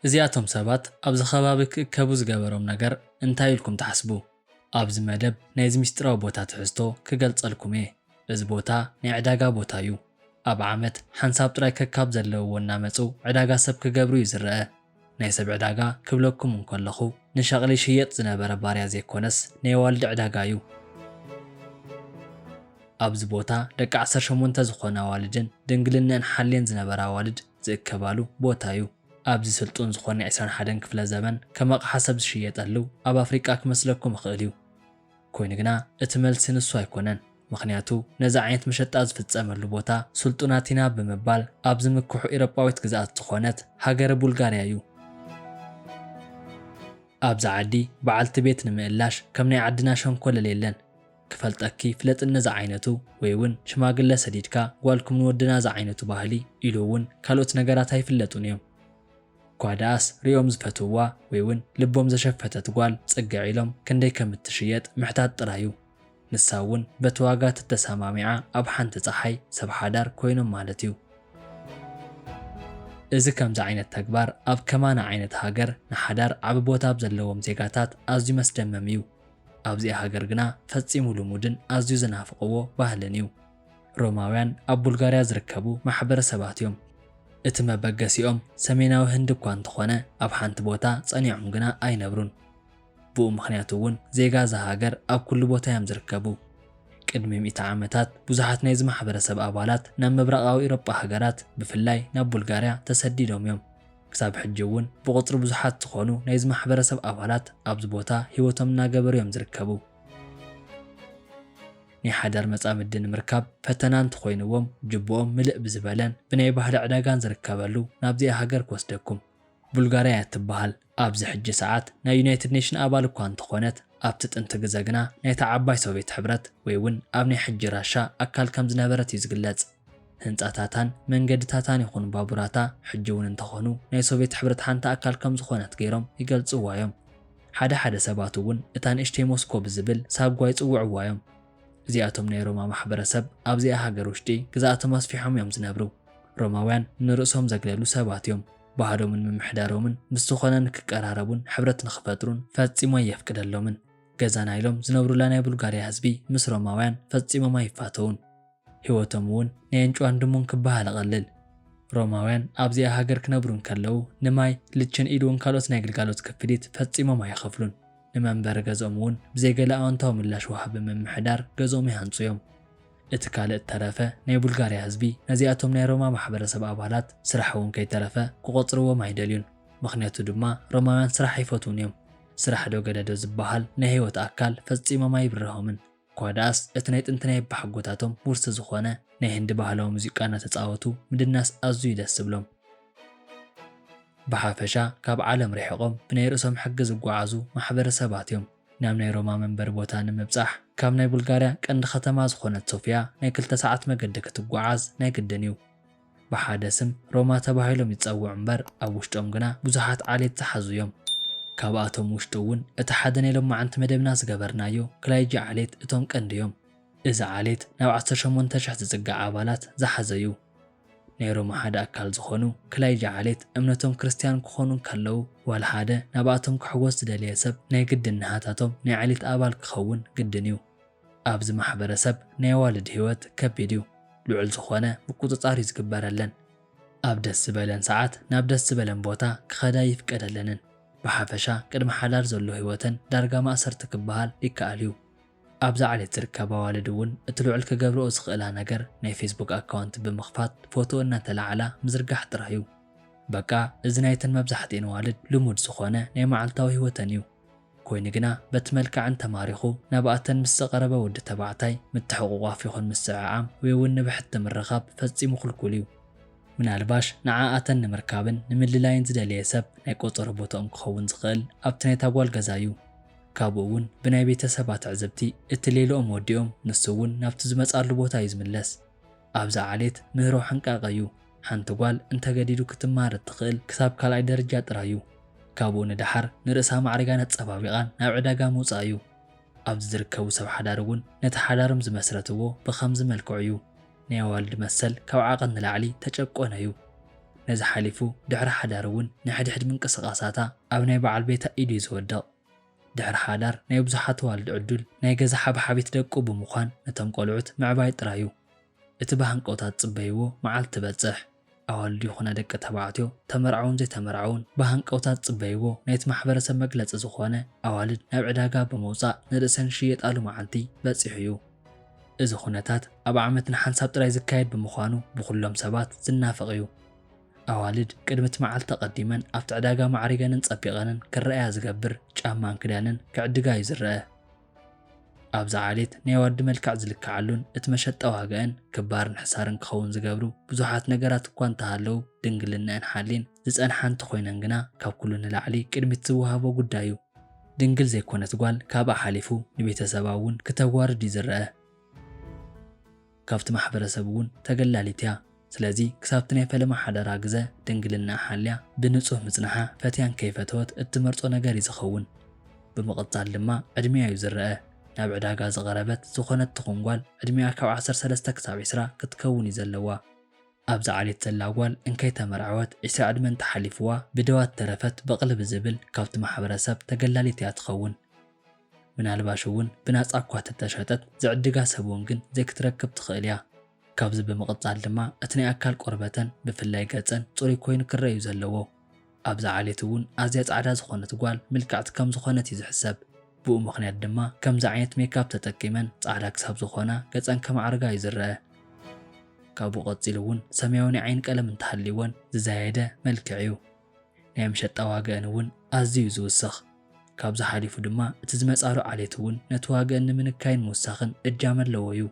እዚኣቶም ሰባት ኣብዚ ከባቢ ክእከቡ ዝገበሮም ነገር እንታይ ኢልኩም ትሓስቡ? ኣብዚ መደብ ናይዚ ምስጢራዊ ቦታ ትሕዝቶ ክገልጸልኩም እየ። እዚ ቦታ ናይ ዕዳጋ ቦታ እዩ። ኣብ ዓመት ሓንሳብ ጥራይ ከካብ ዘለውዎ እናመጹ ዕዳጋ ሰብ ክገብሩ እዩ ዝረኣ። ናይ ሰብ ዕዳጋ ክብለኩም እንከለኹ ንሸቕሊ ይሽየጥ ዝነበረ ባርያ ዘይኮነስ ናይ ኣዋልድ ዕዳጋ እዩ። ኣብዚ ቦታ ደቂ ዓሰርተ ሸሞንተ ዝኾና ኣዋልድን ድንግልነእን ሓልየን ዝነበራ ኣዋልድ ዝእከባሉ ቦታ እዩ። ኣብዚ ስልጡን ዝኾነ ዕስራን ሓደን ክፍለ ዘበን ከም ኣቕሓ ሰብ ዝሽየጠሉ ኣብ ኣፍሪቃ ክመስለኩም ይኽእል እዩ። ኮይኑ ግና እቲ መልሲ ንሱ ኣይኮነን። ምኽንያቱ ነዚ ዓይነት መሸጣ ዝፍጸመሉ ቦታ ስልጡናት ኢና ብምባል ኣብ ዝምክሑ ኢሮጳዊት ግዝኣት ዝኾነት ሃገረ ቡልጋርያ እዩ። ኣብዚ ዓዲ በዓልቲ ቤት ንምእላሽ ከም ናይ ዓድና ሸንኮለል የለን። ክፈልጠኪ ፍለጥኒ ዝዓይነቱ ወይ እውን ሽማግለ ሰዲድካ ጓልኩም ንወድና ዝዓይነቱ ባህሊ ኢሉ እውን ካልኦት ነገራት ኣይፍለጡን እዮም። እኳ ደኣስ ርእዮም ዝፈትውዋ ወይ'ውን ልቦም ዘሸፈተት ጓል ጽግዕ ኢሎም ክንደይ ከም እትሽየጥ ምሕታት ጥራይ'ዩ። ንሳ'ውን በቲ ዋጋ ተተሰማሚዓ ኣብ ሓንቲ ጸሓይ፣ ሰብ ሓዳር፣ ኮይኖም ማለት'ዩ። እዚ ከምዚ ዓይነት ተግባር ኣብ ከማና ዓይነት ሃገር ንሓዳር ዓቢ ቦታ ኣብ ዘለዎም ዜጋታት ኣዝዩ መስደመም'ዩ። ኣብዚኣ ሃገር ግና ፈጺሙ ልሙድን ኣዝዩ ዝናፍቕዎ ባህልን'ዩ። ሮማውያን ኣብ ቡልጋርያ ዝርከቡ ማሕበረሰባት እዮም። እቲ መበገሲኦም ሰሜናዊ ህንዲ እኳ እንተዀነ፣ ኣብ ሓንቲ ቦታ ጸኒዖም ግና ኣይነብሩን። ብኡ ምኽንያት እውን ዜጋ እዛ ሃገር ኣብ ኵሉ ቦታ እዮም ዝርከቡ። ቅድሚ ሚእቲ ዓመታት ብዙሓት ናይዚ ማሕበረሰብ ኣባላት ናብ ምብራቓዊ ኤውሮጳ ሃገራት፣ ብፍላይ ናብ ቡልጋርያ ተሰዲዶም እዮም። ክሳብ ሕጂ እውን ብቝጽሪ ብዙሓት ዝዀኑ ናይዚ ማሕበረሰብ ኣባላት ኣብዚ ቦታ ህይወቶም እናገበሩ እዮም ዝርከቡ። ናይ ሓዳር መጻምዲ ንምርካብ ፈተና እንተኾይንዎም ጅብኦም ምልእ ብዝበለን ብናይ ባህሊ ዕዳጋን ዝርከበሉ ናብዚኣ ሃገር ክወስደኩም። ቡልጋርያ እያ እትበሃል። ኣብዚ ሕጂ ሰዓት ናይ ዩናይትድ ኔሽን ኣባል እኳ እንተኾነት ኣብቲ ጥንቲ ግዘ ግና ናይታ ዓባይ ሶቬት ሕብረት ወይ እውን ኣብ ናይ ሕጂ ራሻ ኣካል ከም ዝነበረት እዩ ዝግለጽ። ህንጻታታን መንገድታታን ይኹን ባቡራታ ሕጂ እውን እንተኾኑ ናይ ሶቬት ሕብረት ሓንቲ ኣካል ከም ዝኾነት ገይሮም ይገልጽዋ እዮም። ሓደ ሓደ ሰባት እውን እታ ንእሽተይ ሞስኮ ብዝብል ሳጓ ይጽውዕዋ እዮም። እዚኣቶም ናይ ሮማ ማሕበረሰብ ኣብዚኣ ሃገር ውሽጢ ግዝኣቶም ኣስፊሖም እዮም ዝነብሩ። ሮማውያን ንርእሶም ዘግለሉ ሰባት እዮም። ባህሎምን ምምሕዳሮምን ምስ ዝኾነ ንክቀራረቡን ሕብረት ንክፈጥሩን ፈጺሙ ኣየፍቅደሎምን። ገዛና ኢሎም ዝነብሩላ ናይ ቡልጋርያ ህዝቢ ምስ ሮማውያን ፈጺሞም ኣይፋተዉን። ሕይወቶም እውን ናይ ኣንጭዋን ድሙን ክበሃል እቐልል። ሮማውያን ኣብዚኣ ሃገር ክነብሩ እንከለዉ ንማይ፣ ልችን ኢሉውን ካልኦት ናይ ግልጋሎት ክፍሊት ፈጺሞም ኣይኸፍሉን። ንመንበሪ ገዝኦም እውን ብዘይ ገለ ኣወንታዊ ምላሽ ወሃቢ ምምሕዳር ገዝኦም ይሃንጹ እዮም። እቲ ካልእ እተረፈ ናይ ቡልጋርያ ህዝቢ ነዚኣቶም ናይ ሮማ ማሕበረሰብ ኣባላት ስራሕ እውን ከይተረፈ ክቖጽርዎም ኣይደልዩን። ምኽንያቱ ድማ ሮማውያን ስራሕ ኣይፈትዉን እዮም። ስራሕዶ ገለዶ ዝበሃል ናይ ሕይወት ኣካል ፈጺሞም ኣይብርሆምን። ኳዳስ እቲ ናይ ጥንቲ ናይ ኣባሓጎታቶም ውርሲ ዝኾነ ናይ ህንዲ ባህላዊ ሙዚቃ እናተጻወቱ ምድናስ ኣዝዩ ደስ ዝብሎም። ብሓፈሻ ካብ ዓለም ርሒቖም ብናይ ርእሶም ሕጊ ዝጓዓዙ ማሕበረሰባት እዮም። ናብ ናይ ሮማ መንበሪ ቦታ ንምብጻሕ ካብ ናይ ቡልጋርያ ቀንዲ ከተማ ዝኾነት ሶፍያ ናይ ክልተ ሰዓት መገዲ ክትጓዓዝ ናይ ግድን እዩ። ብሓደ ስም ሮማ ተባሂሎም ይጸውዑ እምበር ኣብ ውሽጦም ግና ብዙሓት ዓሌት ዝሓዙ እዮም። ካብኣቶም ውሽጢ እውን እቲ ሓደ ናይ ሎማዕንቲ መደብና ዝገበርናዮ ክላይጂ ዓሌት እቶም ቀንዲ እዮም። እዚ ዓሌት ናብ ዓሰርተ ሸሞንተ ሽሕ ዝጽጋዕ ኣባላት ዝሓዘ እዩ። ናይ ሮማ ሓደ ኣካል ዝኾኑ ክላይጂ ዓሌት እምነቶም ክርስትያን ክኾኑ እንከለዉ ዋላ ሓደ ናብኣቶም ክሕወስ ዝደለየ ሰብ ናይ ግድን ናሃታቶም ናይ ዓሌት ኣባል ክኸውን ግድን እዩ። ኣብዚ ማሕበረሰብ ናይ ኣዋልድ ህይወት ከቢድ እዩ ልዑል ዝኾነ ምቁፅፃር እዩ ዝግበረለን ኣብ ደስ ዝበለን ሰዓት ናብ ደስ ዝበለን ቦታ ክኸዳ ኣይፍቀደለንን ብሓፈሻ ቅድሚ ሓዳር ዘሎ ህይወተን ዳርጋ ማእሰርቲ ክበሃል ይከኣል እዩ። ኣብዛ ዓሌት ዝርከባ ኣዋልድ እውን እቲ ልዑል ክገብርኦ ዝኽእላ ነገር ናይ ፌስቡክ ኣካውንት ብምኽፋት ፎቶ እናተላዓላ ምዝርጋሕ ጥራይ እዩ በቃ እዚ ናይተን መብዛሕቲኤን ኣዋልድ ልሙድ ዝኾነ ናይ መዓልታዊ ህይወተን እዩ። ኮይኑ ግና በቲ መልክዐን ተማሪኹ ናብኣተን ምስ ዝቐረበ ወዲ ተባዕታይ ምትሕቑቋፍ ይኹን ምስዕዓም ወይ'ውን ንብሕቲ ምርኻብ ፈጺሙ ክልኩል እዩ። ምናልባሽ ንዓኣተን ንምርካብን ንምልላይን ዝደለየ ሰብ ናይ ቆጸሮ ቦትኦም ክኸውን ዝኽእል ኣብቲ ናይታ ጓል ገዛ እዩ። ካብኡ'ውን ብናይ ቤተሰባ ትዕዝብቲ እቲ ሌልኦም ወዲኦም ንሱ'ውን ናብቲ ዝመጽኣሉ ቦታ እዩ ዝምለስ። ኣብዛ ዓሌት ምህሮ ሕንቃቐ እዩ። ሓንቲ ጓል እንተገዲዱ ክትማሃር እትኽእል ክሳብ ካልኣይ ደረጃ ጥራይ እዩ። ካብኡ ንደሓር ንርእሳ ኣማዕሪጋን ኣጸባቢቓን ናብ ዕዳጋ ምውጻእ እዩ። ኣብዚ ዝርከቡ ሰብ ሓዳር እውን ነቲ ሓዳሮም ዝመስረትዎ ብኸምዚ መልክዑ እዩ። ናይ ኣዋልድ መሰል ካብ ዓቐን ንላዕሊ ተጨቆነ እዩ። ነዚ ሓሊፉ ድሕሪ ሓዳር እውን ንሕድሕድ ምንቅስቓሳታ ኣብ ናይ በዓል ቤታ ኢዱ እዩ ዝወድቕ። ድሕሪ ሓዳር ናይ ብዙሓት ኣዋልድ ዕዱል ናይ ገዛ ሓብሓቢት ደቁ ብምዃን ነቶም ቆልዑት ምዕባይ ጥራይ እዩ። እቲ ብሃንቀውታ ዝጽበይዎ መዓልቲ ትበጽሕ። ኣዋልድ ይኹና ደቂ ተባዕትዮ፣ ተመርዓዉን ዘይተመርዓዉን፣ ብሃንቀውታ ዝጽበይዎ ናይቲ ማሕበረሰብ መግለጺ ዝኾነ ኣዋልድ ናብ ዕዳጋ ብምውጻእ ንርእሰን ዝሽየጣሉ መዓልቲ በጺሑ እዩ። እዚ ኩነታት ኣብ ዓመት ንሓንሳብ ጥራይ ዝካየድ ብምዃኑ ብኹሎም ሰባት ዝናፈቕ እዩ። ኣዋልድ ቅድሚ እቲ መዓልቲ ኣቐዲመን ኣብቲ ዕዳጋ ማዕሪገንን ጸቢቐንን ክረኣያ ዝገብር ጫማን ክዳንን ክዕድጋ እዩ ዝረኣ። ኣብዛ ዓሌት ናይ ዋዲ መልክዕ ዝልከዓሉን እቲ መሸጣ ዋጋኣን ክባርን ሕሳርን ክኸውን ዝገብሩ ብዙሓት ነገራት እኳ እንተሃለዉ፣ ድንግልነኣን ሓልየን ዝጸንሓ እንተኾይነን ግና ካብ ኩሉ ንላዕሊ ቅድሚት ዝወሃቦ ጉዳይ እዩ። ድንግል ዘይኮነት ጓል ካብኣ ሓሊፉ ንቤተሰባ እውን ክተዋርድ እዩ ዝረኣ። ካብቲ ማሕበረሰብ እውን ተገላሊት እያ። ስለዚ ክሳብቲ ናይ ፈለማ ሓዳራ ግዘ ድንግልናኣ ሓልያ ብንፁህ ምፅናሓ ፈትያን ከይፈተወት እትመርፆ ነገር እዩ ዝኸውን። ብምቕፃል ድማ ዕድሚኣ እዩ ዝረኣ። ናብ ዕዳጋ ዝቐረበት ዝኾነት ትኹን ጓል ዕድሚኣ ካብ ዓሰርተ ሰለስተ ክሳብ ዕስራ ክትከውን እዩ ዘለዋ። ኣብዚ ዓሌት ዘላ ጓል እንከይተመርዐወት ዕስራ ዕድመ እንተሓሊፍዋ ብደዋ ተረፈት በቕሊ ብዝብል ካብቲ ማሕበረሰብ ተገላሊት እያ ትኸውን። ምናልባሽ እውን ብናጻ እኳ ተተሸጠት ዝዕድጋ ሰብ እውን ግን ዘይክትረክብ ትኽእል እያ። ካብዚ ብምቕጻል ድማ እቲ ናይ ኣካል ቆርበተን ብፍላይ ገጸን ጽሩይ ኮይኑ ክረኣ እዩ ዘለዎ። ኣብዚ ዓሌት እውን ኣዝያ ጻዕዳ ዝኾነት ጓል ምልክዕቲ ከም ዝኾነት እዩ ዝሕሰብ። ብኡ ምኽንያት ድማ ከምዚ ዓይነት ሜክኣፕ ተጠቂመን ጻዕዳ ክሳብ ዝኾና ገጸን ከማዕርጋ እዩ ዝረኣ። ካብኡ ቀጺሉ እውን ሰማያዊ ናይ ዓይኒ ቀለም እንተሃልይወን ዝዛየደ መልክዕ እዩ። ናይ መሸጣ ዋግኣን እውን ኣዝዩ እዩ ዝውስኽ። ካብዚ ሓሊፉ ድማ እቲ ዝመጻሉ ዓሌት እውን ነቲ ዋግኣን ንምንካይን ምውሳኽን እጃም ኣለዎ እዩ።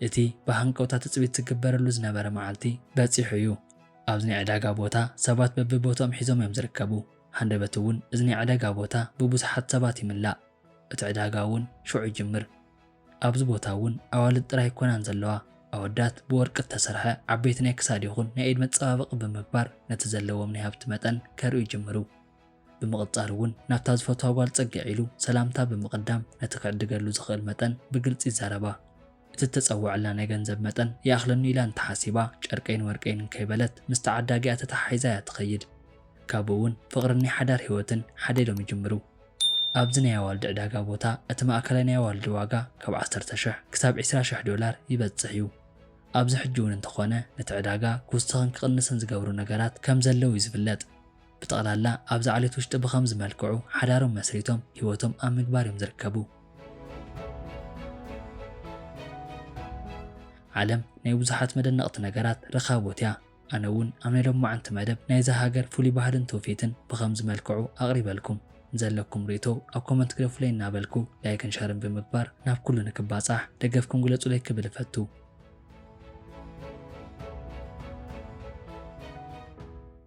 እቲ ብሃንቀውታ ትጽቢት ዝግበረሉ ዝነበረ መዓልቲ በጺሑ እዩ። ኣብዚ ናይ ዕዳጋ ቦታ ሰባት በብቦትኦም ሒዞም እዮም ዝርከቡ። ሃንደበት እውን እዚ ናይ ዕዳጋ ቦታ ብብዙሓት ሰባት ይምላእ። እቲ ዕዳጋ እውን ሽዑ ይጅምር። ኣብዚ ቦታ እውን ኣዋልድ ጥራይ ኣይኮናን ዘለዋ፣ ኣወዳት ብወርቂ እተሰርሐ ዓበይቲ ናይ ክሳድ ይኹን ናይ ኢድ መጸባበቒ ብምግባር ነቲ ዘለዎም ናይ ሃብቲ መጠን ከርእዩ ይጅምሩ። ብምቕጻል እውን ናብታ ዝፈትዋ ጓል ጸግዕ ኢሉ ሰላምታ ብምቕዳም ነቲ ክዕድገሉ ዝኽእል መጠን ብግልጺ ይዛረባ። እቲ እተጸውዐላ ናይ ገንዘብ መጠን ይኣኽለኒ ኢላ እንተ ሓሲባ ጨርቀይን ወርቀይን እንከይበለት ምስ ተዓዳጊኣ ተተሓሒዛ እያ እትኸይድ። ካብኡ እውን ፍቕርን ናይ ሓዳር ህይወትን ሓዴሎም ይጅምሩ። ኣብዚ ናይ ኣዋልድ ዕዳጋ ቦታ እቲ ማእከላይ ናይ ኣዋልድ ዋጋ ካብ ዓሰርተ ሽሕ ክሳብ ዕስራ ሽሕ ዶላር ይበጽሕ እዩ። ኣብዚ ሕጂ'ውን እንተኾነ ነቲ ዕዳጋ ክውስኽን ክቕንስን ዝገብሩ ነገራት ከም ዘለዉ እዩ ዝፍለጥ። ብጠቕላላ ኣብዚ ዓሌት ውሽጢ ብኸምዚ መልክዑ ሓዳሮም መስሪቶም ህይወቶም ኣብ ምግባር እዮም ዝርከቡ። ዓለም ናይ ብዙሓት መደነቕቲ ነገራት ርኻቦት እያ። ኣነ እውን ኣብ ናይ ሎማዓንቲ መደብ ናይዛ ሃገር ፍሉይ ባህልን ትውፊትን ብኸምዚ መልክዑ ኣቕሪበልኩም። ንዘለኩም ሪኢቶ ኣብ ኮመንት ግደፉለይ እናበልኩ ላይክን ሸርን ብምግባር ናብ ኩሉ ንክባፃሕ ደገፍኩም ግለፁለይ ክብል እፈቱ።